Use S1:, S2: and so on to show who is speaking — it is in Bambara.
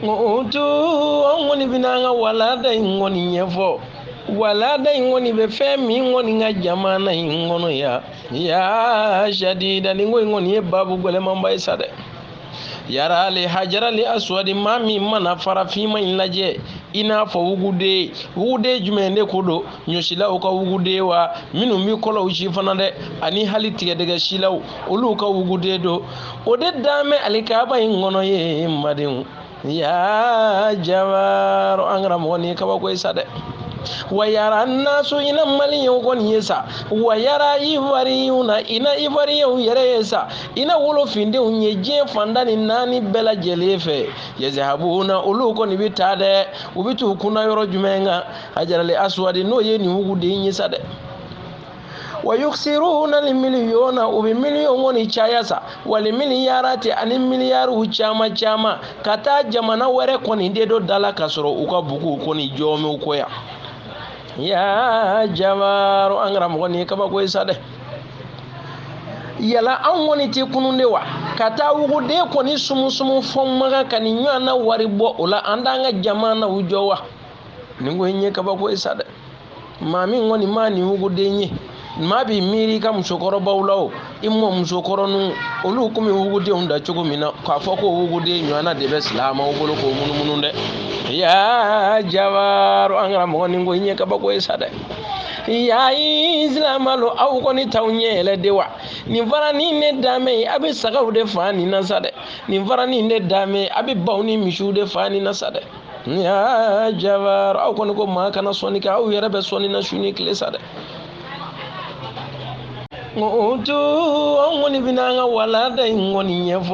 S1: o to an kɔni bɛna an ka walanda in kɔni ɲɛfɔ walanda in kɔni bɛ fɛn min kɔni kan jamana in kɔnɔ yan ya sadida nin ko in kɔni ye babu gɛlɛmanba ye sa dɛ yara le hajara le aswadi maa min mana fara finman in lajɛ i n'a fɔ wuguden wuguden jumɛn de ko don ɲɔsilaw ka wuguden wa minnu bɛ kɔlɔw si fana dɛ ani hali tigɛdɛgɛ silaw olu ka wuguden don o de dan bɛ alikaba in kɔnɔ yen n badenw ya jabaro an karamɔgɔ nin ye kabako ye sa dɛ wayara naso ina maliyɛnw kɔni ye sa wayara ivoiriyuna ina ivoiriyɛnw yɛrɛ ye sa ina wolofindenw ye diɲɛ fan tan ni naani bɛɛ lajɛlen fɛ yezehabuna olu kɔni bɛ taa dɛ u bɛ t'u kun da yɔrɔ jumɛn kan hajara le asuwadi n'o ye nin wuguden ye sa dɛ wa yukisiruna li miliyɔna u bɛ miliyɔn kɔni caya sa wali miliyarati ani miliyariw caman caman ka taa jamana wɛrɛ kɔni de don da la ka sɔrɔ u ka buguw kɔni jɔlen b'u kɔ yan ya jabaro an karamɔgɔ nin ye kabako ye sa dɛ yala anw kɔni tɛ kunun de wa ka taa wuguden kɔni sumusumu fɔ makan ka nin ɲɔgɔnna wari bɔ o la an t'an ka jamanaw jɔ wa nin ko in ye kabako ye sa dɛ maa min kɔni ma nin wuguden ye maa b'i miiri i ka musokɔrɔbaw la o i mɔmusokɔrɔninw olu tun bɛ wugudenw da cogo min na k'a fɔ ko wuguden ɲɔgɔnna de bɛ silamaw bolo k'o munumunu dɛ ya jabaro an karamɔgɔ nin ko in ye kabako ye sa dɛ ya isilamalo aw kɔni t'aw ɲɛ yɛlɛ de wa nin fara nin de dan bɛ yen a bɛ sagaw de faga nin na sa dɛ nin fara nin de dan bɛ yen a bɛ baw ni misiw de faga nin na sa dɛ ya jabaro aw kɔni ko maa kana sɔnni kɛ aw yɛrɛ bɛ sɔnni na su ni tile sa dɛ n ko o to an kɔni bɛna an ka walanda in kɔni ɲɛfɔ